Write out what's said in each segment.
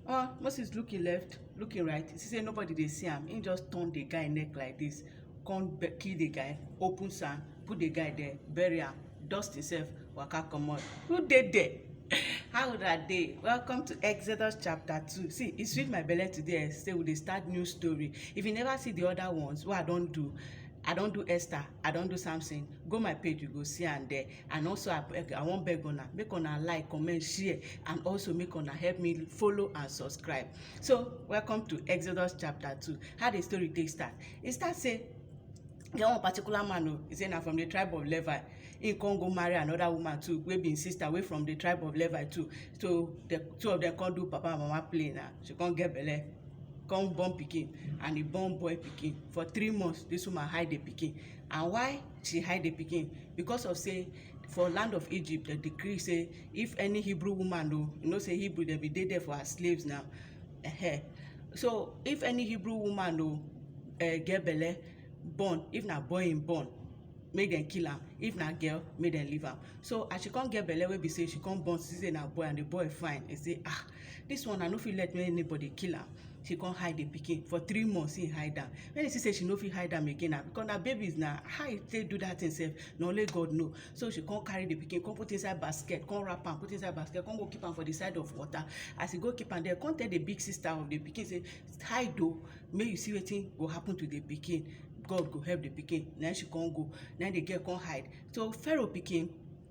omo moses look him left look him right he see say nobody dey see am he just turn the guy neck like this come kill the guy open sand put the guy there bury am dust himself waka comot who dey there how una dey welcome to exodus chapter two see e sweet my belle today say we dey start new story if you never see the other ones wey i don do I don do Esther, I don do Samson. Go my page, you go see am there. and also i beg i wan beg una make una like comment share and also make una help me follow and subscribe so welcome to exodus chapter two how the story take start e start say get one particular man o he say na from the tribe of levi he come go marry another woman too wey be him sister wey from the tribe of levi too so the two of them come do papa and mama play na she come get belle come born pikin and he born boy pikin for three months this woman hide the pikin and why she hide the pikin because of say for land of egypt dem decree say if any hebrew woman o you know say hebrew dem bin dey there for her slaves now uh -huh. so if any hebrew woman o uh, get belle born if na boy im born make dem kill am if na girl make dem leave am so as she come get belle wey be say she come born see say na boy and the boy fine e say ah this one i no fit let anybody kill am she come hide the pikin for three months he hide am when he see say she no fit hide am again na because na babies na how he take do that thing sef na only god know so she come carry the pikin come put inside basket come wrap am put inside basket come go keep am for the side of water as he go keep am there come tell the big sister of the pikin say hide o make you see wetin go happen to the pikin god go help the pikin na she come go na the girl come hide so pharaoh pikin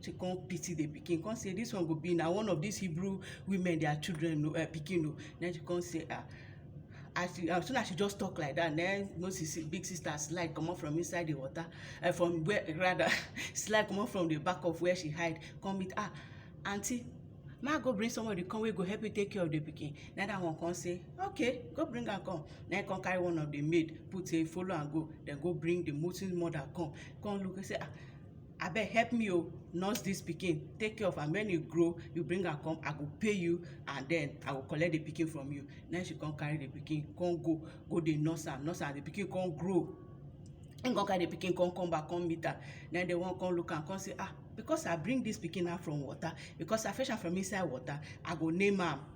she come pity the pikin come say this one go be na one of these hebrew women their children no uh, pikin no then she come say ah as she as soon as she just talk like that then moses big sister slide comot from inside the water uh, from where rather slide comot from the back of where she hide come meet ah aunty ma go bring somebody come wey go help you take care of the pikin na that one come say okay go bring am come na him come carry one of the maid put say follow am go then go bring the moses mother come come look say ah abeg help me o nurse this pikin take care of am when e grow you bring am come i go pay you and then i go collect the pikin from you then she come carry the pikin come go go dey nurse am nurse am the pikin come grow him come carry the pikin come come back come meet am then the one come look am come say ah because i bring this pikin out from water because i fetch am from inside water i go name am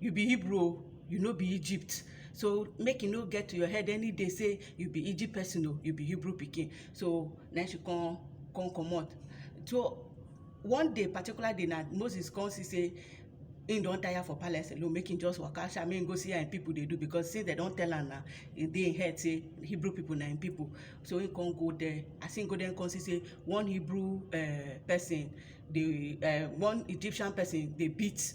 you be hebrew o you no be egypt so make e no get to your head any day say you be egypt person o you be hebrew pikin so na she come come comot so one day particular day na moses come see say him don tire for palace alone make him just waka sha make him go see how him people dey do because since dem don tell am na e dey him head say hebrew people na him people so him come go there as him go there him come see say one hebrew uh, person dey uh, one egyptian person dey beat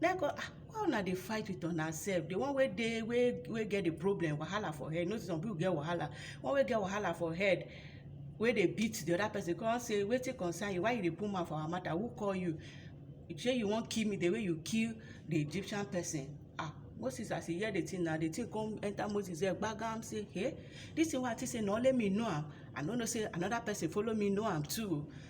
Then go, ah, why una dey fight with una sef? The one wey dey wey wey get the problem, wahala for head. You know some people get wahala. One wey get wahala for head, wey dey beat the other person, come say, wetin concern you? Why you dey put mouth for our matter? Who call you? Shey you wan kill me the way you kill the Egyptian person? Ah, Moses as he hear the thing na, the thing come enter Moses head gbagam say, hey, this thing wey I think say na only me know am, I no know say another person follow me know am too.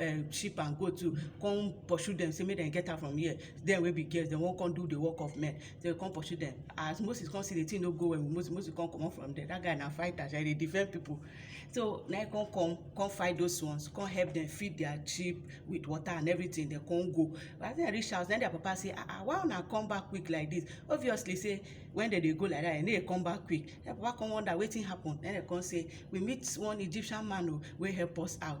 um, sheep and goat too come pursue them say make dem get am from here dem wey be girls dem wan come do the work of men dem come pursue them as moses come see the thing no go well with moses moses come comot from there that guy na fighter sha he dey defend people so na he come come come fight those ones come help them feed their sheep with water and everything dem come go but as dem reach house na their papa say ah ah why una come back quick like this obviously say when dem dey go like that dem no dey come back quick their papa come wonder wetin happen na dem come say we meet one egyptian man o oh, wey help us out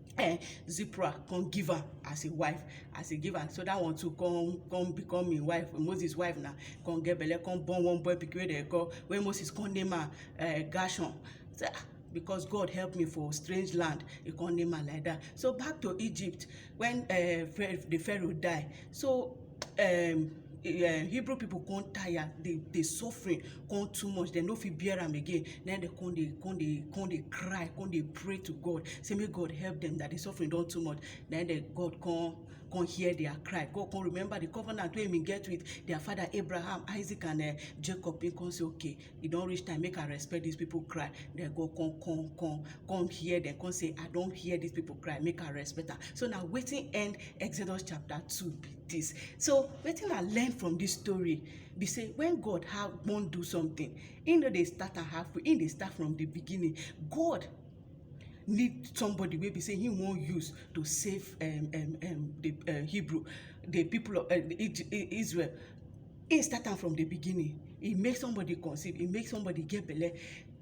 eh, Zipporah come give her as a wife as a give her so that one too come come become im wife Moses wife na come get belle come born one boy pikin wey dem call wey Moses come name am uh, eh, Gershon so, ah, because God help me for strange land he come name am like that so back to Egypt when uh, the Pharaoh die So um Hebrew people come tire, the the suffering come too much, dem no fit bear am again. Na im dem come dey come dey come dey cry, come dey pray to God, say make God help dem that the suffering don too much. Na im dem God come come hear their cry. God come remember the covenant wey he been get with their father Abraham, Isaac and um Jacob. He come say okay, e don reach time make i respect these people cry dem go come come come come hear dem come say i don hear these people cry make i respect am so na wetin end exodus chapter two be this so wetin i learn from this story be say when god have wan do something he no dey start am halfway he dey start from the beginning god need somebody wey be say he wan use to save um, um, um, the uh, hebrew the people of uh, israel He start am from the beginning. He make somebody conceive. He make somebody get belle,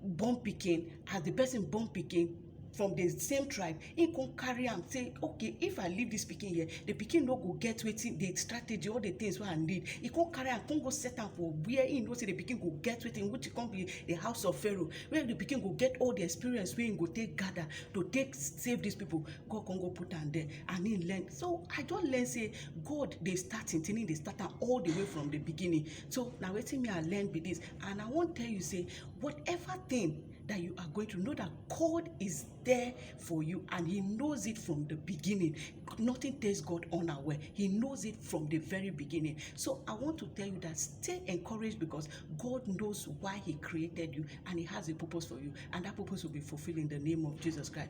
born pikin. As the person born pikin, from the same tribe he come carry am say okay if i leave this pikin here the pikin no go get wetin the strategy all the things wey i need he come carry am come go set am for where he know say the pikin go get wetin which come be the house of pharaoh where the pikin go get all the experience wey he go take gather to take save these people god come go put am there and he learn so i don learn say God dey start im thing, im dey start am all the way from the beginning. So na wetin me I learn be this and I wan tell you say whatever thing that you are going through, know that God is there for you and he knows it from the beginning. Nothing takes God unaware. He knows it from the very beginning. So I want to tell you that stay encouraged because God knows why he created you and he has a purpose for you and that purpose will be fulfilled in the name of Jesus Christ.